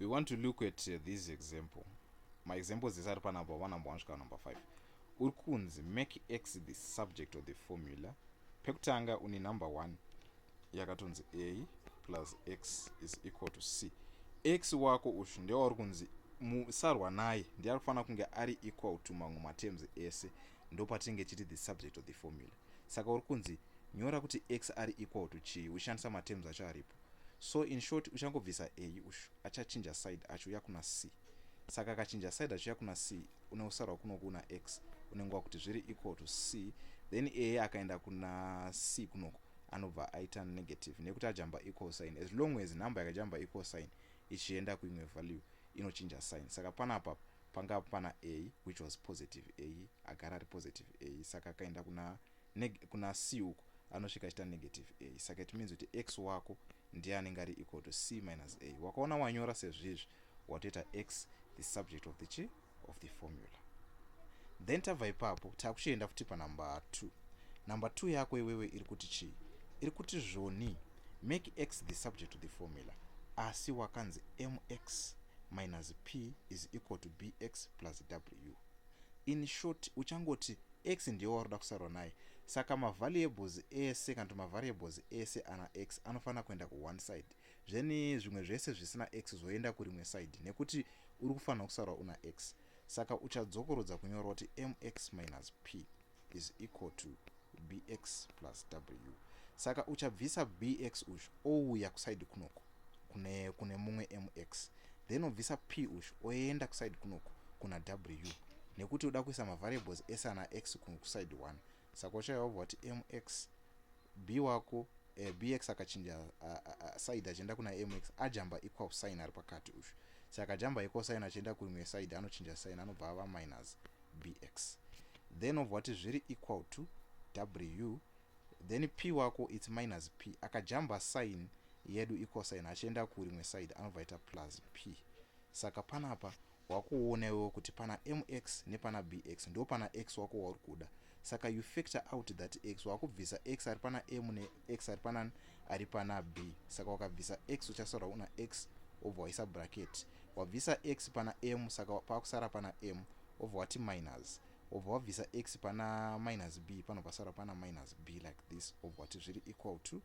we want to look at uh, this example maexamples ese ari panumber one number one svika number five uri kunzi make x the subject of the formula pekutanga une number one yakatonzi a plus x is equal to c x wako ushu ndewauri kunzi musarwa naye ndiye ari kufanira kunge ari equal to mamwe materms ese ndopatinenge chiti the subject of the formula Saka uri kunzi nyora kuti x ari equal to chii uchishandisa materms acho aripo. So in short uchangobvisa a ushu achachinja side achiuya kuna c. Saka akachinja side achiuya kuna c une usarwa kuno kuna x unenge wakuti zviri equal to c then a akaenda kuna c kunoko anobva aita negative nekuti ajamba equal sign as long as number yakajamba equal sign ichienda kuimwe value inochinja sign. Saka panapa panga pana a which was positive a agara ari positive a saka akaenda kuna kuna c uko anosvika achita negative a saka it means kuti x wako ndiye anenge ari equal to c minus a wakaona wanyora sezvizvi watoita x the subject of the chi of the formula then tabva ipapo takuchienda futi panumber two number two yako iwewe iri kuti chii iri kuti zvoni Make x the subject to the formula asi wakanzi mx minus p is equal to bx plus w. In short, uchangoti x ndiyo waroda kusarwa naye, saka mavariables ese kana kuti mavariables ese ana x anofanira kuenda kuone side, zveni zvimwe zvese zvisina x zvoenda kurimwe side nekuti uri kufanira kusarwa una x. Saka uchadzokorodza kunyora kuti mx minus p. is equal to bx plus w saka uchabvisa bx uyu ouya kusaidi kunoku kune, kune mumwe mx then obvisa p uyu oenda kusaidi kunoku kuna w nekuti uda kuisa mavariables ese ana x kusaidi 1 saka uchaiwa kuti mx Bee wako eh, bx akachinja side achienda kuna mx ajamba equal sign ari pakati uyu saka akajamba equal sign achienda kurimwe side anochinja sign anobva ava minus bx then obva wati zviri equal to w then p wako its minus p akajamba sign yedu equal sign achienda kurimwe side anobva aita plus p saka panapa Wakuona iwewe kuti pana MX nepana BX ndopana X wako wauri kuda saka you factor out that X wakubvisa X ari pana M ne X ari pana ari pana B saka wakabvisa X uchasara una X obva waisa bracket wabvisa X pana M saka pakusara pana M obva wati minus obva wabvisa X pana minus B panobva sara pana minus B like this obva wati zviri equal to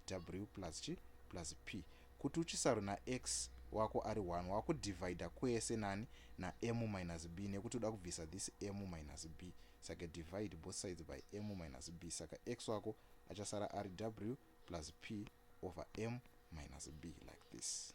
w plus chi plus p kuti uchisaro nax wako ari 1 wakudivhaidha kwese nani nam minus b nekuti uda kubvisa this m minus b saka divide both sides by m minus b saka x wako achasara ari w plus p over m minus b like this